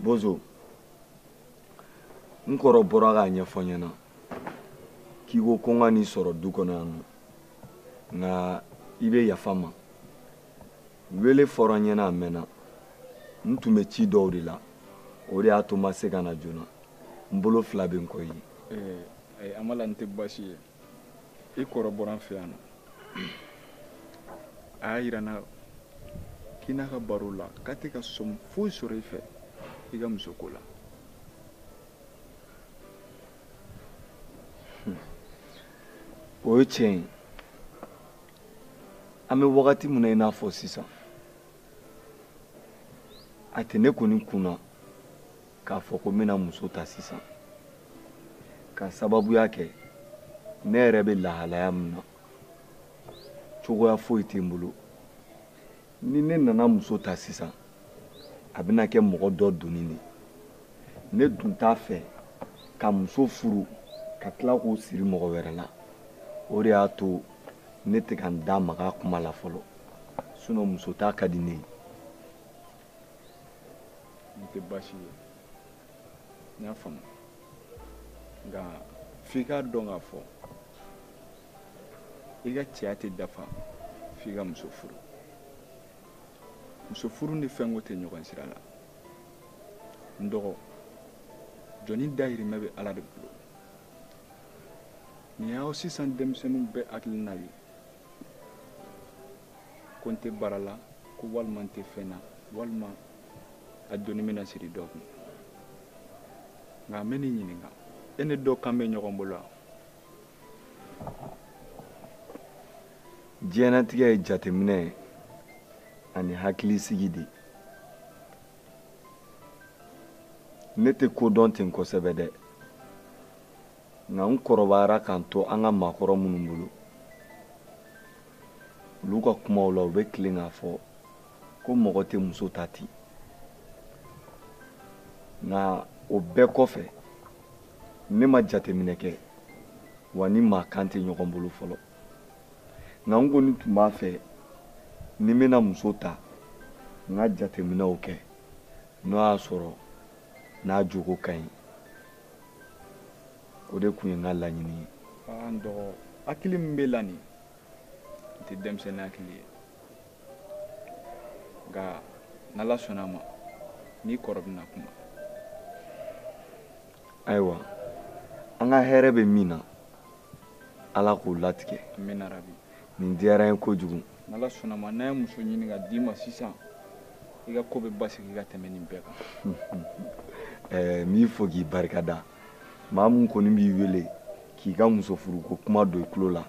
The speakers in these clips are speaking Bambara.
bozo n kɔrɔ bɔra k'a ɲɛfɔ n ɲɛna k'i ko ko n ka n'i sɔrɔ du kɔnɔ yan nɔ nka i bɛ yafa n ma wele fɔra n ɲɛna a mɛnna n tun bɛ ci dɔw de la o de y'a to n ma se ka na joona n bolo fila bɛ n kɔ i ye. Eh, eh, amala n tɛ baasi ye. i kɔrɔ bɔra an fɛ yan nɔ a y'a yira n na k'i n'a ka baro la k'a tɛ ka sɔmi foyi sɔrɔ i fɛ i ka musoko la hmm. o ye tiɲɛ ye an bɛ wagati min na i n'a fɔ sisan a tɛ ne kɔni kun na k'a fɔ ko n bɛna muso ta sisan ka sababuya kɛ ne yɛrɛ bɛ lahalaya min na cogoya foyi tɛ n bolo ni ne nana muso ta sisan a bɛna kɛ mɔgɔ dɔ doni de ne dun t'a fɛ ka muso furu ka tila k'o siri mɔgɔ wɛrɛ la o de y'a to ne tɛ ka n da maga a kuma la fɔlɔ sinon muso ta ka di ne ye nin tɛ baasi ye n y'a faamu nka f'i k'a dɔn k'a fɔ i ka cɛya tɛ dafa f'i ka muso furu muso furu ni fɛnko tɛ ɲɔgɔn sira la n dɔgɔ jɔnnin dayirimɛ bɛ ala de bolo nin y'aw sisan denmisɛnninw bɛɛ hakilina ye ko n tɛ baara la ko walima n tɛ fɛn na walima a doni bɛna siri dɔ kun nka n bɛn'i ɲininka e ni dɔ kan bɛ ɲɔgɔn bolo wa diɲɛnatigɛ ye jateminɛ ye ani hakilisigi de ne tɛ ko dɔn ten kosɛbɛ dɛ nka n kɔrɔbayara ka n to an ka maakɔrɔ minnu bolo olu ka kumaw la u bɛ tilen k'a fɔ ko mɔgɔ tɛ muso ta ten nka o bɛɛ kɔfɛ ne ma jateminɛ kɛ wa n ni maa kan tɛ ɲɔgɔn bolo fɔlɔ nka n kɔni tun b'a fɛ ni n bɛna muso ta n ka jateminɛw kɛ n'o y'a sɔrɔ n'a jogo ka ɲi o de tun ye n ka laɲini ye aa n dɔgɔ hakili min b'e la nin n tɛ denmisɛnnin hakili ye nka n'ala sɔnna a ma n n'i kɔrɔ bɛna kuma ayiwa an ka hɛrɛ bɛ min na ala k'o latigɛ nin diyara n ye kojugu n'ala sɔnna a ma n'a ye muso ɲini ka d'i ma sisan i ka ko bɛ basigi ka tɛmɛ nin bɛɛ kan n b'i fo k'i barika da maa min kɔni b'i wele k'i ka muso furuko kuma don i tulo la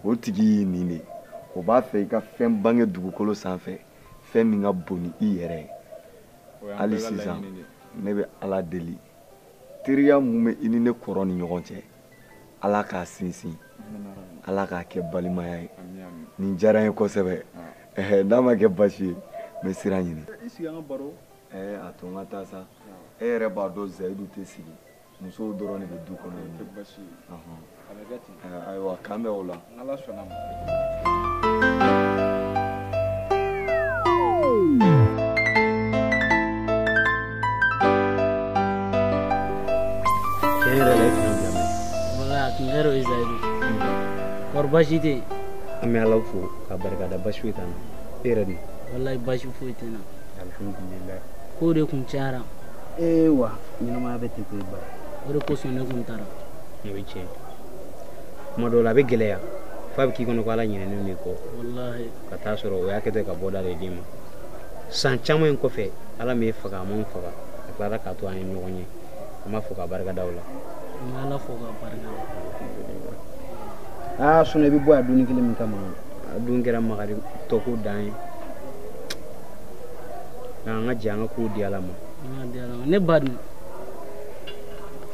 o tigi y'i nin de o b'a fɛ i ka fɛn bange dugukolo sanfɛ fɛn min ka bon ni i yɛrɛ ye hali sisan ne bɛ ala deli teriya min bɛ i ni ne kɔrɔ ni ɲɔgɔn cɛ ala k'a sinsin ala k'a kɛ balimaya ye nin diyara n ye kosɛbɛ eh, n'a ma kɛ baasi ye n bɛ sira ɲini i sigi an ka baro a to n ka taa sa e yɛrɛ b'a dɔn zayidu tɛ sigi musow dɔrɔn de bɛ du kɔnɔ ayiwa k'an bɛn o la baasi tɛ yen an bɛ ala fo k'a barikada baasi foyi t'an na e yɛrɛ dun walayi baasi foyi tɛ n na alihamudulila ko de kun cayara ee wa ɲɛnamaya bɛ ten ten ba o de kosɔn ne kun taara o ye tiɲɛ kuma dɔw la a bɛ gɛlɛya f'a bɛ k'i kɔnɔ ko ala ɲinɛnen de kɔ ka taa sɔrɔ o y'a kɛtɔ ka bɔda de d'i ma san caman in kɔfɛ ala m'e faga a m'anw faga a tilara k'a to an ye ɲɔgɔn ye an b'a fo k'a barika da o la ala fo k'a barika da sinɔn i bɛ bɔ yan dumuni kelen min kama a dun kɛra makaritɔko dan ye nka an ka jɛ an ka kow di ala ma ne ba dun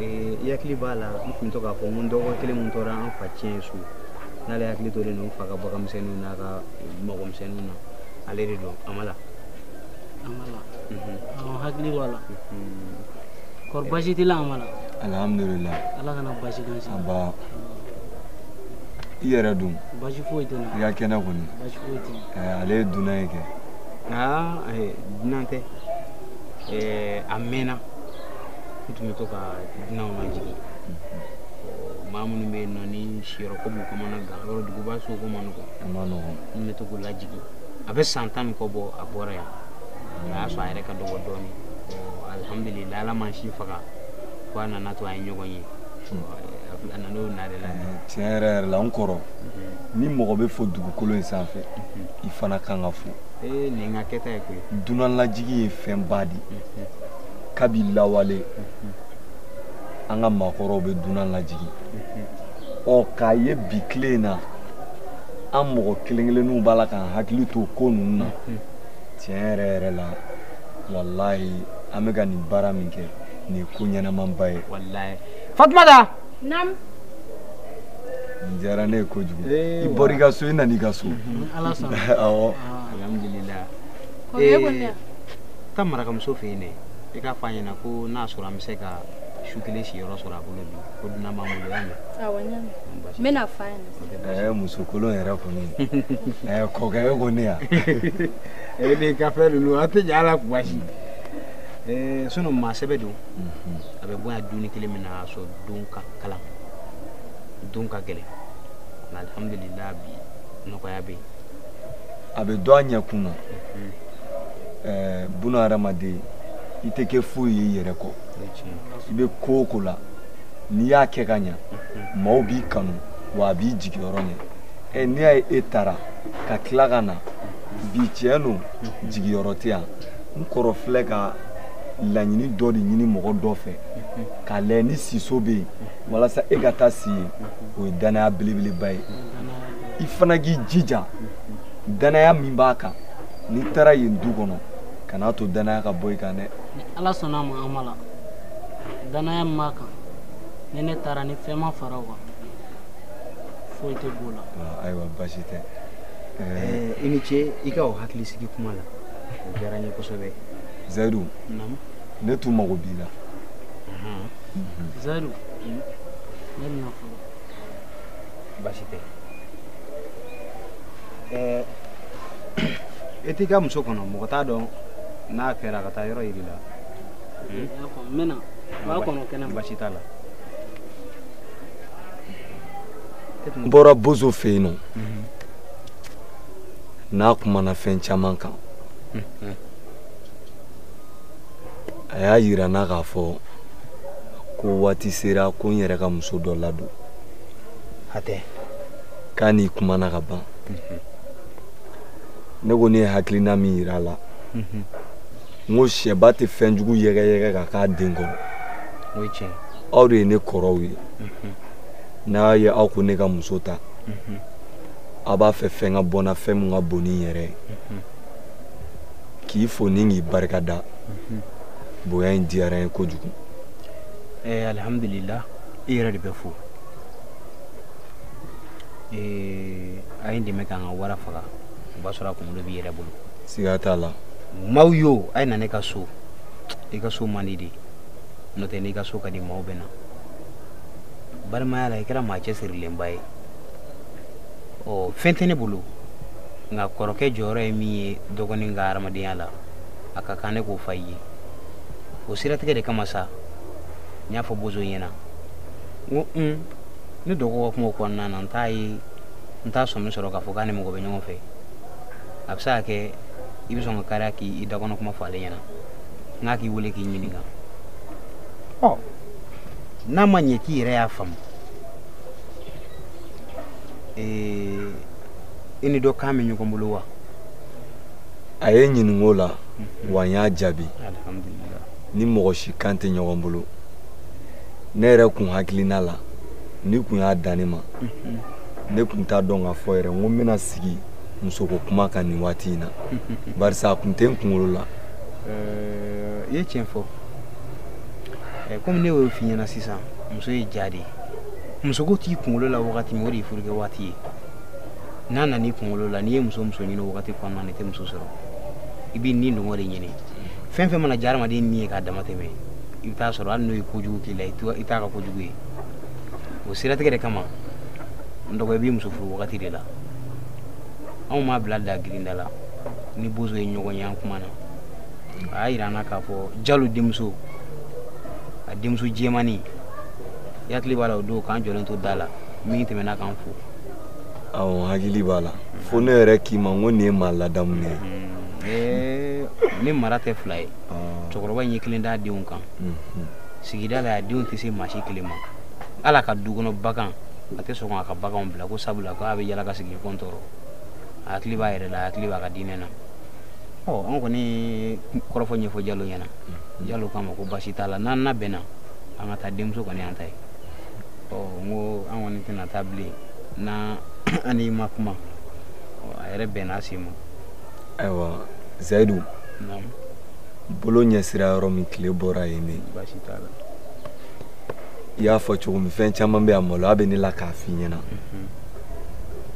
i hakili b'a la n tun bɛ to k'a fɔ ko n dɔgɔ kelen min tora an fa tiɲɛ so n'ale hakili tolen don n fa ka baganmisɛnninw n'a ka mɔgɔmisɛnninw na ale de don amala amala mhm. hakili b'a la mhm. kɔri baasi t'i la amala alhamdulila ala kana baasi k'an si aba i yɛrɛ dun baasi foyi tɛ n na i ka kɛnɛ kɔni baasi foyi tɛ eh, ale ye dunan ye kɛ aa eh, dunan tɛ eh, a mɛnna n tun bɛ to ka dunanw lajigin maa minnu bɛ yen nɔ ni siyɔrɔko b'u kɔnɔna gan yɔrɔ duguba so ko man nɔgɔn a man nɔgɔn n bɛ to k'u lajigin a bɛ san tan ni kɔ bɔ a bɔra yan o y'a sɔrɔ a yɛrɛ ka dɔgɔ dɔɔnin alihamudulila ala ma si faga fo a nana to a ye ɲɔgɔn ye a nana o nare la tiɲɛ yɛrɛ yɛrɛ la n kɔrɔ ni mɔgɔ bɛ fo dugukolo in sanfɛ i fana kan ka fo ee nin ka kɛta ye koyi dunanlajigi ye fɛnba de ye kabi lawale an ka maakɔrɔw bɛ dunan lajigin ɔ k'a ye bi tile in na an mɔgɔ kelen kelenninw b'a la k'an hakili to ko ninnu na tiɲɛ yɛrɛ yɛrɛ la walayi an bɛ ka nin baara min kɛ nin ye ko ɲɛnamaba ye fatumata naamu nin diyara ne ye kojugu i bɔra i ka so i nana i ka so awɔ taa marakamuso fɛ yen dɛ i k'a fɔ a ɲɛna ko n'a sɔrɔ an bɛ se ka su kelen siyɔrɔ sɔrɔ a bolo bi ko dunan b'an bolo y'a mɛn. awɔ n y'a mɛn n bɛna a fɔ a ɲɛna. ɛɛ muso kolon yɛrɛ kɔni ɛɛ kɔkɛ e ko ne yan. e de ka fɛn ninnu an tɛ ɲɛ a la kuma si. Eh, sinɔn maa sɛbɛ don mhm. a bɛ bonya dumuni kelen min na a sɔrɔ don ka kalan don ka gɛlɛn alihamudulila bi nɔgɔya bɛ yen a bɛ dɔ a ɲɛkun na ɛɛ buna hadamaden i tɛ kɛ foyi ye i yɛrɛ kɔ i bɛ ko o ko la n'i y'a kɛ ka ɲa maaw b'i kanu wa a b'i jigiyɔrɔ ɲɛ ɛ n'i y'a ye e taara ka tila ka na bi tiɲɛ don jigiyɔrɔ tɛ yan n kɔrɔ filɛ ka laɲini dɔ de ɲini mɔgɔ dɔ fɛ k'a lajɛ ni siso bɛ yen walasa e ka taa si yen o ye dannaya belebeleba ye i fana k'i jija danaya min b'a kan n'i taara yen du kɔnɔ kan'a to danaya ka bɔ i kan dɛ ni ala sɔnna a ma amala danaya min b'a kan ni ne taara ni fɛn ma fara o kan foyi tɛ b'o la ah, ayiwa basi tɛ eh, i ni ce i ka o hakili sigi kuma la o diyara n ye kosɛbɛ zayidu ne tun mago b'i la zayidu ne bɛna fɔ basi tɛ ɛɛ e t'i ka muso kɔnɔ mɔgɔ t'a dɔn n'a kɛra ka taa yɔrɔ yira i la n bɛna b'a kɔnɔ kɛnɛ ma basi t'a la n bɔra bozo fɛ yen nɔ mhm. n'a kumana fɛn caman kan mhm. a y'a yira n na k'a fɔ ko waati sera ko n yɛrɛ ka muso dɔ ladon hatɛ k'a n'i kumana ka ban mhm. ne ko ne ye hakilina min yira a la mhm. n ko sɛba tɛ fɛn jugu yɛgɛyɛgɛ ka k'a den kɔrɔ aw de ye ne kɔrɔw ye mhm. n'a ye aw ko ne ka muso ta a b'a fɛ fɛn ka bɔ n na fɛn min ka bon ni n yɛrɛ ye k'i fo ni k'i barika da bonya in diyara n ye kojugu eh, alihamudulila i yɛrɛ de bɛ fo eh, a ye n dɛmɛ k'an ka wara faga o b'a sɔrɔ a kunkolo b'i yɛrɛ bolo siga t'a la maaw yo a ye na ne ka so i ka so man di de n'o tɛ n'i ka so ka di maaw bɛ na balimaya la i kɛra maa cɛsirilenba ye ɔ fɛn tɛ ne bolo nka kɔrɔkɛ jɔyɔrɔ ye min ye dɔgɔnin ka hadamadenya la a ka kan ne k'o fa i ye o siratigɛ de kama sa n y'a fɔ bozo ɲɛna n ko un ne dɔgɔ ka kumaw kɔnɔna na n t'a ye n t'a sɔmi sɔrɔ k'a fɔ k'a ni mɔgɔ bɛ ɲɔgɔn fɛ a bɛ se ka kɛ i bɛ sɔn ka kariya k'i i dakɔnɔ kuma fɔ ale ɲɛna n k'a k'i wele k'i ɲininka ɔ n'a ma ɲɛ k'i yɛrɛ y'a faamu ee i ni dɔ kan bɛ ɲɔgɔn bolo wa a ye ɲinink'o la mhm. wa n y'a jaabi n ni mɔgɔ si kan tɛ ɲɔgɔn bolo ne yɛrɛ kun hakilina la n'i kun y'a dan ne ma mhm. ne kun t'a dɔn k'a fɔ yɛrɛ n ko n bɛna sigi musoko kuma kan nin waati in na barisa a kun tɛ n kunkolo la i ye tiɲɛ fɔ komi ne y'o f'i ɲɛna sisan muso ye ja de ye musoko t'i kunkolo la wagati min o de ye furukɛ waati ye n'a nana i kunkolo la n'i ye muso muso ɲini wagati kɔnɔna na i tɛ muso sɔrɔ i b'i ni dungɔ de ɲini fɛn fɛn mana diya adamaden ni ye k'a dama tɛmɛ i bɛ taa sɔrɔ hali n'o ye kojugu k'i la i t'a ka kojugu ye o siratigɛ de kama n dɔgɔ i b'i muso furu wagati de la anw m'a bila da girinda la n ni bozo ye ɲɔgɔn ye an kumana a y'a yira an na k'a fɔ jalo denmuso a denmuso jɛmani i hakili b'a la o don k'an jɔlen to da la min tɛmɛna k'an fo awɔ n hakili b'a la fo ne yɛrɛ k'i ma n ko nin ye maa ladamu de ye ee ne mara tɛ fila ye cɛkɔrɔba in ye kelen d'a denw kan sigida la a denw tɛ se maa si kelen ma hal'a ka du kɔnɔ bagan a tɛ sɔn k'a ka baganw bila ko sabula ko a bɛ yala ka sigiɲɔgɔn tɔɔrɔ a hakili b'a yɛrɛ la a hakili b'a ka diinɛ na ɔ an kɔni ye kɔrɔfɔ ɲɛfɔ jalo ɲɛna jalo k'a ma ko baasi t'a la n'an labɛnna an ka taa denmuso kɔni an ta ye ɔ n ko an kɔni tɛna taa bilen n'an n'i ma kuma a yɛrɛ bɛnna se ma ayiwa zayidu bolo ɲɛsira yɔrɔ min tile bɔra yen ne i y'a fɔ cogo min fɛn caman bɛ a maloya bɛ ne la k'a f'i ɲɛna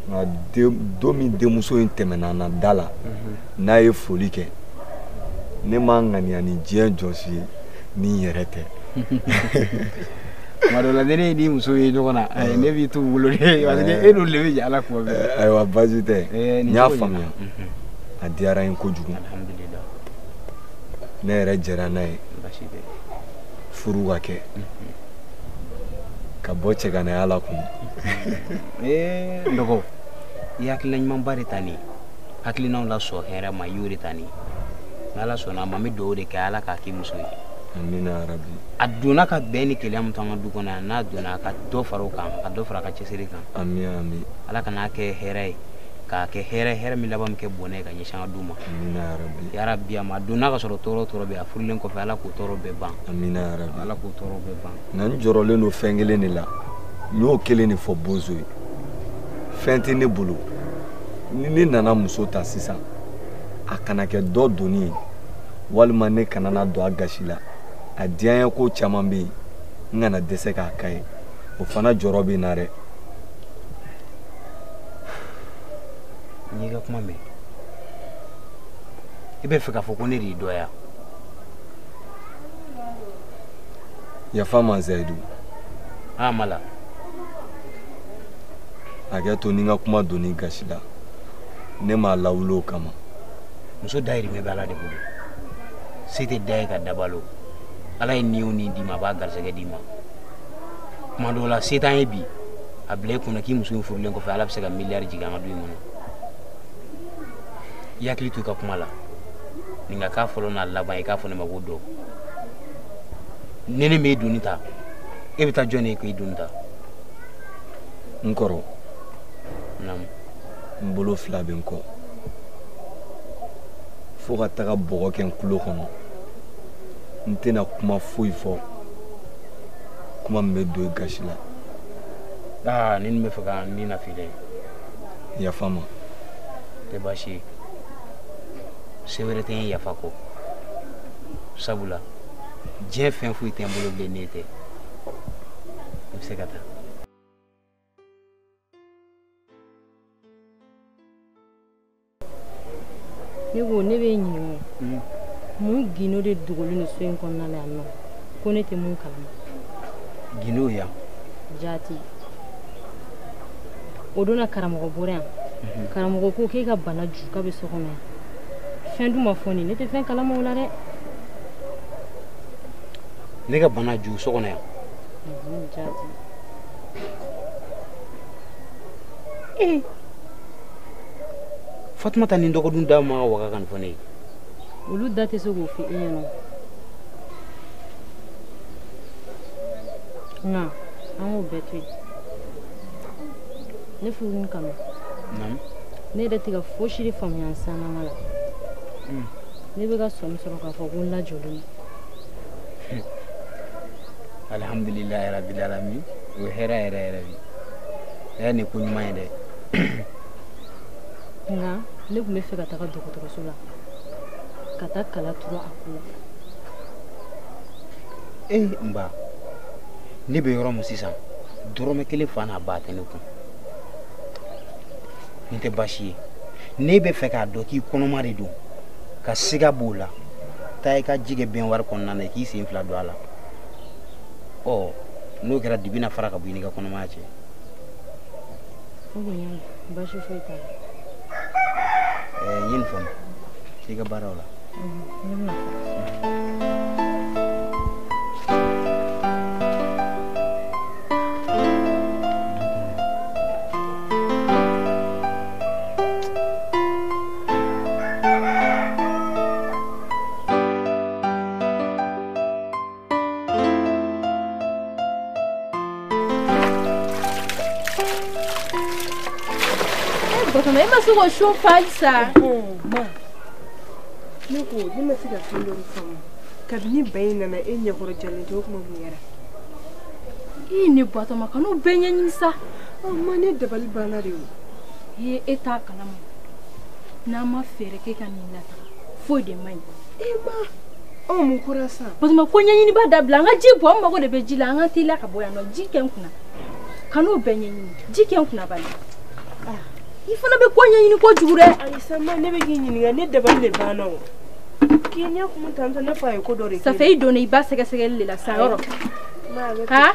nka don min denmuso in tɛmɛna an na da la n'a ye foli kɛ ne ma ŋaniya ni diɲɛ jɔsi ye ni n yɛrɛ tɛ tuma dɔ la ni ne ni muso ye ɲɔgɔn na ayi ne b'i t'u bolo de parce que e n'olu de bɛ jɛ a la tuma bɛɛ eh, ayiwa baasi tɛ eh, n y'a faamuya mhm. a diyara n ye kojugu ne yɛrɛ jɛra n'a ye furu ka kɛ mhm. ka bɔ cɛganaya la kun eh, n dɔgɔ i hakilila ɲumanba de ta nin ye hakilinaw la sɔn hɛrɛ ma i y'o de ta nin ni ala sɔnna a ma n bɛ dugawu de kɛ ala k'a k'i muso ye a donna ka bɛn ni kɛlɛ min t'an ka du kɔnɔ yan n'a donna a ka dɔ fara o kan ka dɔ fara a ka cɛsiri kan ala kan'a kɛ hɛrɛ ye k'a kɛ hɛrɛ hɛrɛ min laban min kɛ bɔnɛ ye ka ɲɛsin an ka du ma yarabi a ma donna k'a sɔrɔ tɔɔrɔ tɔɔrɔ bɛ a furulen kɔfɛ ala k'o tɔɔrɔ bɛɛ ban ala k'o tɔɔrɔ bɛɛ ban nka n jɔrɔlen don fɛn kelen de la n y'o kelen de fɔ bozo ye fɛn tɛ ne bolo ni ne nana muso ta sisan a kana kɛ dɔ doni ye walima ne kana na don a gasi la a diyanye ko caman bɛ yen n kana dɛsɛ k'a k'a ye o fana jɔrɔ bɛ n na dɛ n y'i ka kuma mɛn i bɛ fɛ k'a fɔ ko ne de y'i dɔya yafa n ma zayidu a ah, mala hakɛ to ni n ka kuma donn'i gasi la ne m'a lawuli o kama muso dayirimɛ bɛ ala de bolo se tɛ da ye ka da balo ala ye ni o ni d'i ma a b'a garisɛgɛ d'i ma tuma dɔw la se t'an ye bi a bila i kunna k'i muso in furulen kɔfɛ ala bɛ se ka miliyari jigin an ka du in kɔnɔ i hakili to i ka kuma la nin ka k'a fɔlɔ n'a laban i k'a fɔ ne ma ko dɔw ni ne m'e doni ta e bɛ taa jɔn de ye k'i doni ta n kɔrɔ n bolo fila bɛ n kɔ fo ka taga bɔgɔ kɛ n tulo kɔnɔ n tɛna kuma foyi fɔ kuma min bɛ don i gasi la aa ni nin bɛ fɛ ka n nafili dɛ yafa n ma tɛ baasi ye se wɛrɛ tɛ n yafa kɔ sabula diɲɛ fɛn foyi tɛ n bolo bilen n'e tɛ i bɛ se ka taa ne ko ne b'e ɲininka hmm. mun gindo de dogolen don so in kɔnɔna la yan nɔ ko ne tɛ mun kalama gindo yan jaati o donna karamɔgɔ bɔra yan mhm. karamɔgɔ ko k'e ka bana ju k'a bɛ so kɔnɔ yan fɛn dun ma fɔ n ye ne tɛ fɛn kalama o la dɛ ne ka bana ju so kɔnɔ yan ee fatumata ni dɔgɔdun da ma waga ka nin fɔ ne ye olu da tɛ se k'o fɔ e ɲɛna nka an k'o bɛɛ to yen ne furu ni kanu ne yɛrɛ tɛ ka fosi de faamuya n sanama la ne bɛ ka sɔmi sɔrɔ k'a fɔ ko n lajɔlen don alhamdulilayi rabil alamin o ye hɛrɛ yɛrɛ yɛrɛ de hɛrɛ ni ko ɲuman ye dɛ nka ne tun bɛ fɛ ka taga dɔgɔtɔrɔso la ka taa kala turu a ko la ee eh, n ba ne bɛ yɔrɔ min sisan dɔrɔmɛ kelen fa n'a ba tɛ ne kun nin tɛ baasi ye n'i bɛ fɛ k'a dɔn k'i kɔnɔma de don ka siga b'o la taa i ka ji kɛ bɛnwari kɔnɔna na i k'i sen fila don a la ɔ n'o kɛra dibi na fara ka bɔ i n'i ka kɔnɔmaya cɛ baasi foyi t'a la ɛɛ n ye nin faamu i ka baaraw la Batoma, e ma se k'o so fa sa. Ma, ne ko ne ma se ka fɛn dɔ faamu. Kabini ba in nana e ɲɛkɔrɔ jalen tɛ o kuma mun kɛra? I ne Batoma, kan'u bɛɛ ɲɛɲini sa. Ɔ ma ne dabali banna de o. Ee e t'a kalama. n'an ma fɛɛrɛ kɛ ka nin lataa foyi de man ɲi e ma anw mun kɛra sisan batoma ko ɲɛɲiniba dabila an ka ji bɔ an mago de bɛ ji la an ka teliya ka bɔ yan nɔ ji kɛ n kunna kan'o bɛɛ ɲɛɲini ji kɛ n kunna bali ah. i fana bɛ ko ɲɛɲini kojugu dɛ ayi sa ma ne bɛ k'i ɲininka ne dabali de banna o k'i ɲɛ kun tantɔ ne fa ye ko dɔ de kɛ ça fait i donna i ba sɛgɛsɛgɛli de la sa yɔrɔ ha